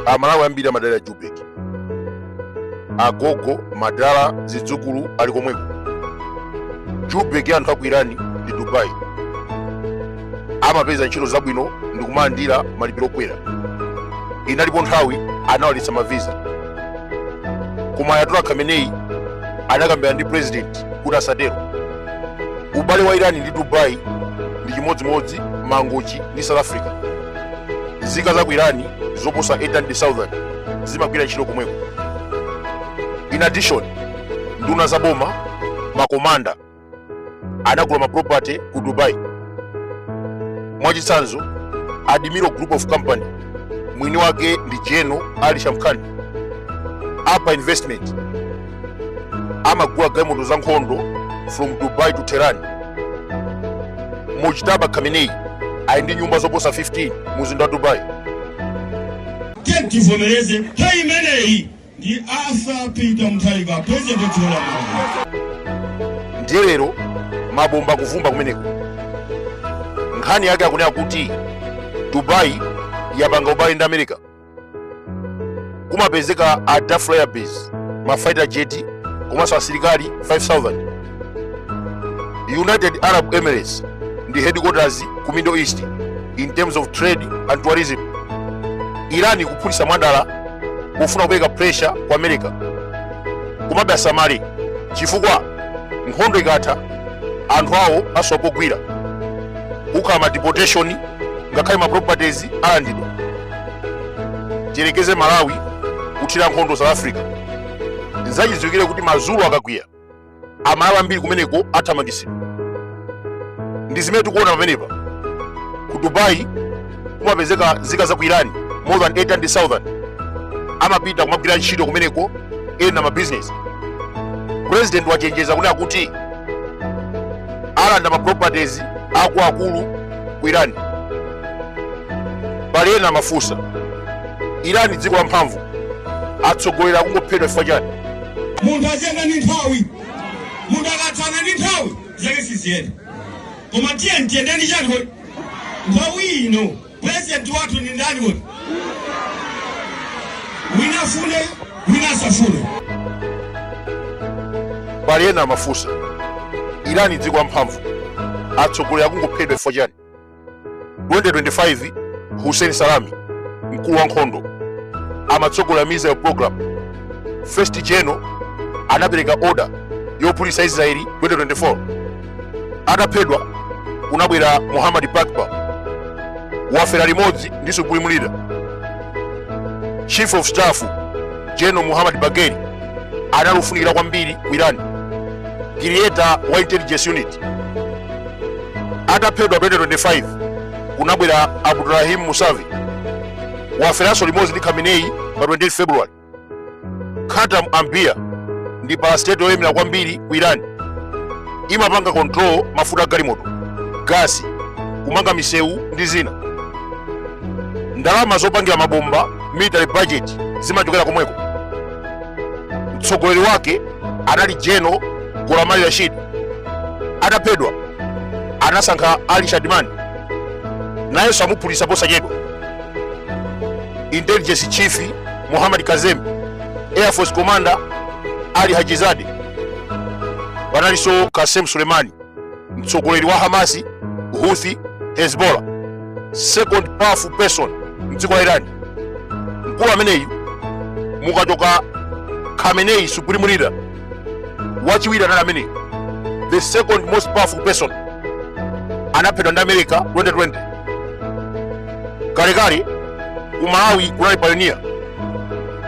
amalawi ambiri amadalira joburg agogo madala zidzukulu ali komweko joburg anthu aku irani ndi dubai amapeza ntchito zabwino ndi kumalandira malipiro okwera inalipo nthawi anawaletsa maviza koma ayatollah khamenei anakambirana ndi president kuti asatero ubale wa irani ndi dubai ndi chimodzimodzi mangochi ndi south africa nzika za ku irani zoposa 800000 zimagwira ntchito komweko in addition nduna za boma makomanda anagula maproperty ku dubai mwachitsanzo admiral group of company mwini wake ndi general ali shamkhani apa investment amagula galimoto za nkhondo from dubai to tehran mujtaba khamenei ali ndi nyumba zoposa 15 mu mzinda wa dubai tiyeni tivomereze nthawi imeneyi ndi arthur peter mutharika president wa dziko la malawi ndiye lero mabomba akuvumba kumeneko nkhani yake akunena kuti dubai yapanga ubale ndi america kumapezeka al dhafra air base ma fighter jet komanso asilikali 5000 united arab emirates ndi headquarters ku middle east in terms of trade and tourism iran ikuphulitsa mwadala kufuna kupereka pressure ku america komabe asamale chifukwa nkhondo ikatha anthu awo asowa pogwira kukhala ma deportation ngakhale ma properties alandidwa tiyerekeze malawi kuthira nkhondo south africa nzachidziwikire kuti mazulu akakwiya amalawi ambiri kumeneko athamangitsidwa ndi zimene tikuona pamenepa ku dubai kumapezeka nzika za ku irani more than 800000 amapita kumagwira ntchito kumeneko ena mabizinesi president wachenjeza kunena kuti alanda ma properties akuluakulu ku irani pali ena amafunsa irani dziko la mphamvu atsogoleri akungophedwa chifukwa chani munthu ayenda ndi nthawi munthu akatsana ndi nthawi zake siziyenda Koma tiyeni tiyende ndi chani kodi? Nthawi ino president wathu ndi ndani kodi? Wina afune, wina asafune. pali ena amafunsa irani dziko lamphamvu atsogoleri akungophedwa chifukwa chani 2025 hussein salami mkulu wa nkhondo amatsogolera missile program first general anapereka order yophulitsa israeli 2024 ataphedwa kunabwera muhammad Pakpour wafera limodzi ndi supreme leader chief of staff general muhammad Bagheri anali ofunikira kwambiri ku iran creator wa intelligence unit ataphedwa 2025 kunabwera Abdolrahim Mousavi waferanso limodzi ndi khamenei pa 28 february Khatam Anbiya ndi parastatal yoyemera kwambiri ku Iran. Imapanga control mafuta a galimoto, gasi, kumanga misewu ndi zina. Ndalama zopangira mabomba, military budget, zimachokera komweko. Mtsogoleri wake anali General Gholam Ali Rashid. Ataphedwa anasankha Ali Shadmani, nayenso amuphulitsa posachedwa. intelligence chief Muhammad Kazemi, air force commander Ali Hajizadeh, panalinso Qasem Soleimani, mtsogoleri wa Hamasi, Houthi, Hezbollah, second powerful person mdziko la Iran. Mkulu ameneyu mukachoka Khamenei, supreme leader wachiwiri anali ameneyo the second most powerful person anaphedwa ndi america 2020 kalekale ku malawi kunali pioneer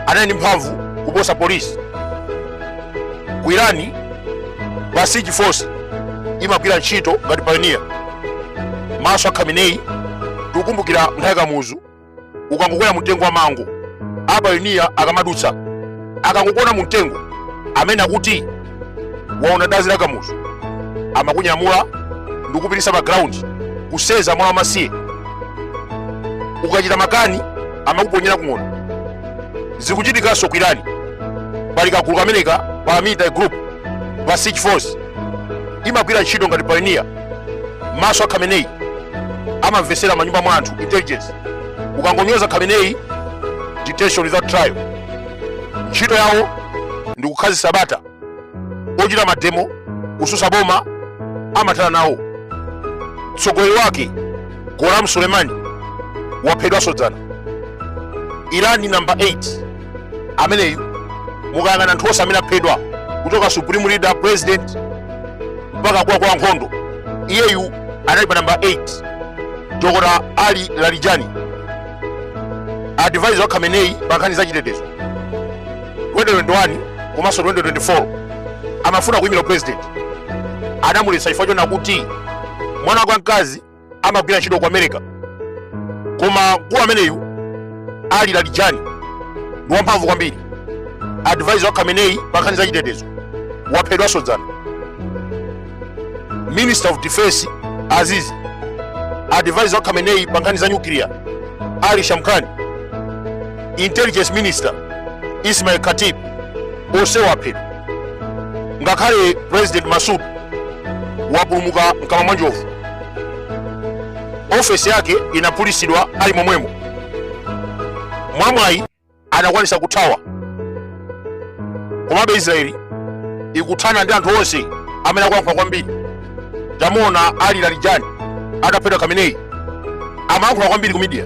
anali ndi mphamvu kuposa polisi ku irani Basij force imagwira ntchito ngati pioneer maso a khamenei tikukumbukira nthawi kamuzu ukangokwera mumtengo wa mango apayoniya akamadutsa akangokuona mumtengo amene akuti waona dazi la kamuzu amakunyamula ndikupitisa pa ground kuseza mwana wamasiye ukachita makani amakuponyera ku ng'ona zikuchitikanso ku irani pali kagulu kameneka ka paramilitary group Basij force imagwira ntchito ngati payoniya maso a khamenei amamvesera manyumba mwa anthu intelligence ukangonyoza khamenei detention without trial ntchito yawo ndi kukhazisa bata ochita mademo kususa boma amathana nawo mtsogoleri wake Gholam Soleimani waphedwanso dzana irani namba 8 ameneyu mukayang'ana anthu onse amene aphedwa kuchoka supreme leader president mpaka akuluakulu a nkhondo iyeyu anali pa namba 8 dokota ali Larijani advisor wa khamenei pa nkhani za chitetezo 2021 komanso 2024 amafuna kuyimira upresident anamuletsa chifukwa chona kuti mwana wake wamkazi amagwira ntchito ku america koma mkulu ameneyu ali larijani ndi wamphamvu kwambiri advisor wa khamenei pa nkhani za chitetezo waphedwanso dzana minister of defense azizi advisor wa khamenei pa nkhani za nyukiliya ali shamkhani intelligence minister ismail khatib onse aphedwa ngakhale president masud wapulumuka mkamwa mwa njovu ofesi yake inaphulitsidwa ali momwemo mwamwayi anakwanisa kuthawa komabe israeli ikuthana ndi anthu onse amene akuyankhula kwambiri tamuona ali larijani ataphedwa khamenei amayankhula kwambiri ku midiya